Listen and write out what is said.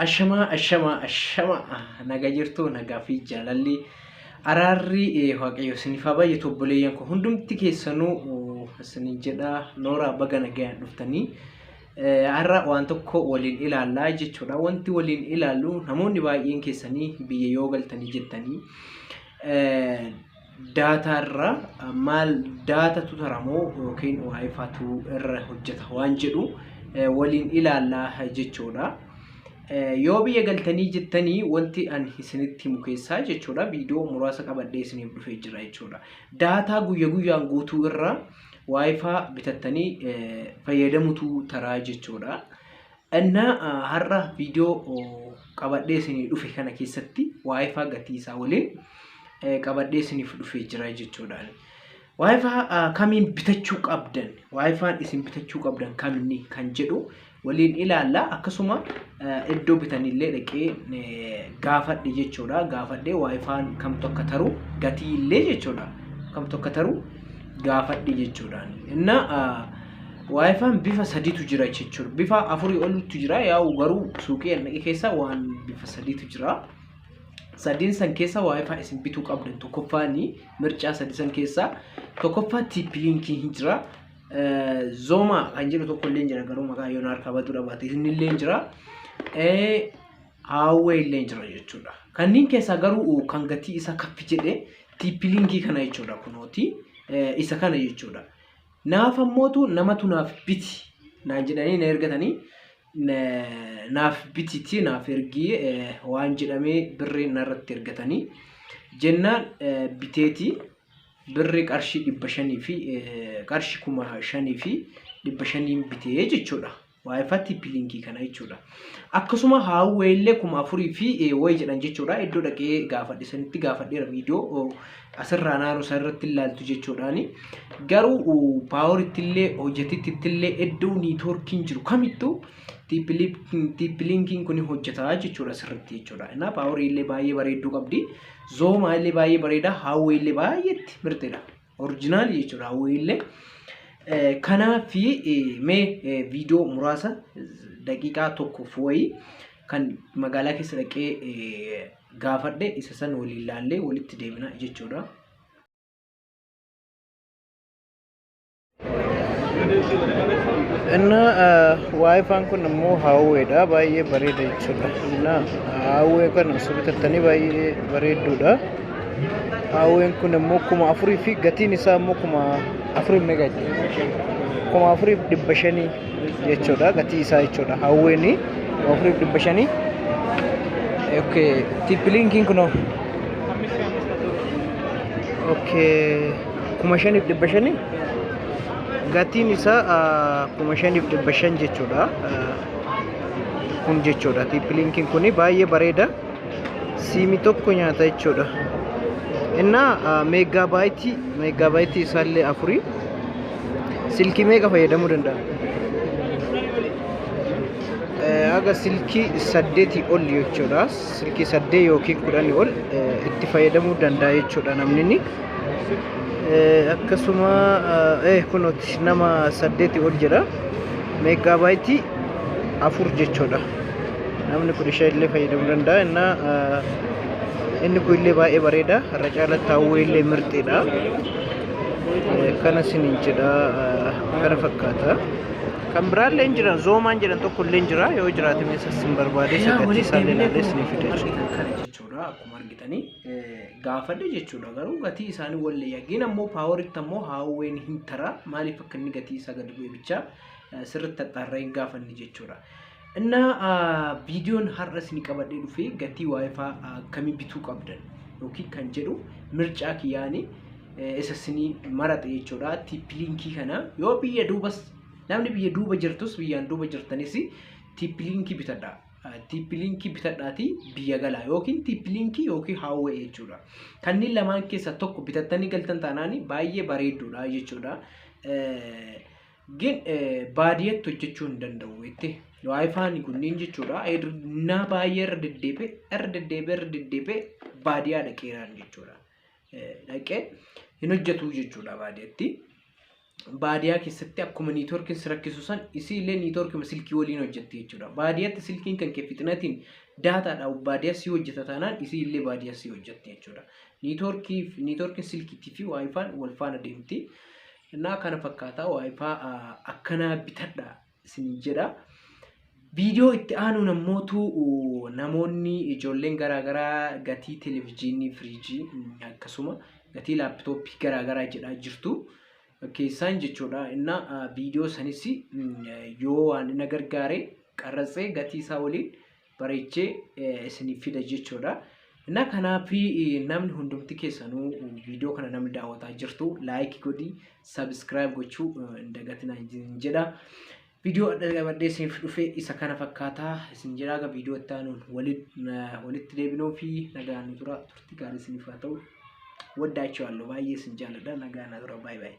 Ashamaa ashamaa ashamaa naga jirtuu nagaa fi jaalalli araarri eh, waaqayyo isiniif haa baay'atu obboleeyyan koo hundumti keessanuu eh, isinin jedha nooraa baga nagayaan dhuftanii Har'a waan tokko waliin ilaallaa jechuudha. Wanti waliin ilaallu namoonni baay'een keessanii biyya yoo galtanii jettanii daataa irra maal daatatu taramoo yookiin waayifatu irra hojjeta waan jedhu waliin ilaallaa jechuudha. Yoo biyya galtanii jettanii wanti ani isinitti himu keessaa jechuudha viidiyoo muraasa qabadhee isiniif dhufee jira jechuudha. Daataa guyya guyyaan guutuu irra waayifaa bitattanii fayyadamutu taraa jechuudha. Innaa har'a viidiyoo qabadhee isinii dhufe kana keessatti waayifaa gatii isaa waliin qabadhee isiniif dhufee jira jechuudha. Waayifaa kamiin bitachuu qabdan waayifaan isin bitachuu qabdan kaminni kan jedhu waliin ilaalla akkasuma iddoo bitanillee dhaqee gaafadhe jechuudha gaafadhe waayifaan kamtu akka taru gatii illee jechuudha kamtu akka taru gaafadhe jechuudha inna waayifaan bifa sadiitu jira jechuudha bifa afurii oltu jira yaa'u garuu suuqii annaqi keessa waan bifa sadiitu jira sadiin san keessa waayifaa isin bituu qabdan tokkoffaani mircaa sadii san keessa tokkoffaa tiippiliinkii hin jira Zoomaa kan jedhu tokko illee jira garuu maqaa yoon harkaa batuu dhabaate inni illee jira. Haawwee illee jira jechuudha. Kanneen keessaa garuu kan gatii isaa kaffi jedhe tiippiliingii kana jechuudha kunooti isa kana jechuudha. Naaf ammootu namatu naaf biti naan jedhanii na ergatanii naaf bititi naaf ergii waan jedhamee birrii narratti ergatanii jennaan biteetii. birri qarshii dhibba shanii fi qarshi kuma shanii fi dhibba shaniin bitee jechuudha. Waayifaa tiippiliinkii kana jechuudha. Akkasuma haawwee illee kuma afurii fi wayi jedhan jechuudha. Iddoo dhaqee gaafadhe sanitti gaafadheera viidiyoo asirraa naannoo isaa irratti ilaaltu jechuudhaani. Garuu paaworitti illee hojjetitti illee iddoo niitoorkiin jiru kamittuu tiippiliinkiin kun hojjetaa jechuudha sirriitti jechuudha. Innaa paaworii illee baay'ee bareedduu qabdi. Zoomaa illee baay'ee bareeda. Hawwii illee baay'eetti mirteedha. Orijinaali jechuudha hawwii illee. Kanaaf mee viidiyoo muraasa daqiiqaa tokkoof wayii kan magaalaa keessa dhaqee gaafadhe isa san waliin ilaallee walitti deemna jechuudha. Inna waayifaan kun immoo haawweedha baay'ee bareeda jechuudha. Inna haawwee kana osoo bitattanii baay'ee bareedduudha. Haawween kun immoo kuma afurii fi gatiin isaa immoo kuma afurii meeqa kuma afurii fi dhibba shanii jechuudha gatii isaa jechuudha haawweeni kuma afurii fi dhibba shanii. Okay, tippiliinkiin kunoo. Okay. kuma shaniif dhibba shani gatiin isaa ah, kuma shaniif dhibba shan jechuudha Ah, kun jechuudha tiippilinkiin kun baay'ee bareeda siimi tokko nyaata jechuudha innaa ah, meegaabaayitii meegaabaayitii isaallee afurii silkii meeqa fayyadamuu danda'a Eh, haga silkii saddeetii ol jechuudha silkii saddee yookiin kudhanii ol eh, itti fayyadamuu danda'a jechuudha namni inni akkasuma eh kunooti nama saddeeti ol jira meegaabaayitii afur jechuudha namni kun ishee illee fayyadamuu danda'a innaa inni kun illee baay'ee bareeda irra caalatti hawwee illee mirxiidha kana sinin jedha kana fakkaata kan biraallee jira zoomaan jedhan tokko illee jira yoo jiraate meesas sin barbaade sagatii isaallee ilaallee sin fide jechuudha. gaafadhe jechuudha. Garuu gatii isaanii wallee yaggeen ammoo paawaritti ammoo haawween hin tara maaliif akka inni gatii isaa gadi bu'e bichaa sirriitti axxaarree hin gaafanne jechuudha. Inna viidiyoon har'a isin qabadhee dhufee gatii waayifaa akkamii bituu qabdan yookiin kan jedhu mircaa kiyyaanii isa isinii maraxe jechuudha. Tiippiliinkii kana yoo biyya duubas namni biyya duuba jirtus biyyaan duuba jirtanis tiippiliinkii bitadha. Tiippiliinkii bitadhaatii biyya galaa yookiin tiippiliinkii yookiin haawwee jechuudha. Kanneen lamaan keessaa tokko bitattanii galtan taanaan baay'ee bareedduudha jechuudha. Gin baadiyyatti hojjechuu hin danda'u jettee waayifaan kunniin jechuudha. Naa baay'ee irra deddeebi'e irra deddeebi'e irra deddeebi'e baadiyyaa dhaqeeraan jechuudha. Dhaqee hin hojjetu jechuudha baadiyyatti. baadiyaa keessatti akkuma niitoorkiin si rakkisu san isii illee niitoorkima silkii waliin hojjetti jechuudha. Baadiyatti silkiin kan kee fixinatiin daataadha baadiyaa si hojjeta taanaan isii illee baadiyaa si hojjetti jechuudha. Niitoorkii niitoorkiin silkiitii fi waayifaan wal faana deemti. Innaa kana fakkaataa waayifaa akkanaa bitadha. isiniin jedha. Viidiyoo itti aanuun ammootu namoonni ijoolleen garaagaraa gatii televezyiinii, firiijii akkasuma gatii laaptooppii garaagaraa jedhaa jirtu keessaan jechuudha. Inna viidiyoo sanis yoo waan na gargaare qarratsee gatii isaa waliin bareechee eh, isiniif fida jechuudha. Na kanaaf eh, namni hundumti keessanuu viidiyoo kana namni daawwataa jirtu laayikii godhi sabiskiraayib gochuu eh, hin dagatinaa isin jedha. Viidiyoo adda qabadhee isiniif dhufe isa kana fakkaataa isin jedha aga viidiyoo itti aanuun waliin, eh, walitti deebinuu fi nagaan nu tura turtii gaarii isiniif haa ta'u. Waddaachiwaallo baay'ee isin jaalladha nagaan na tura baay'ee baay'ee.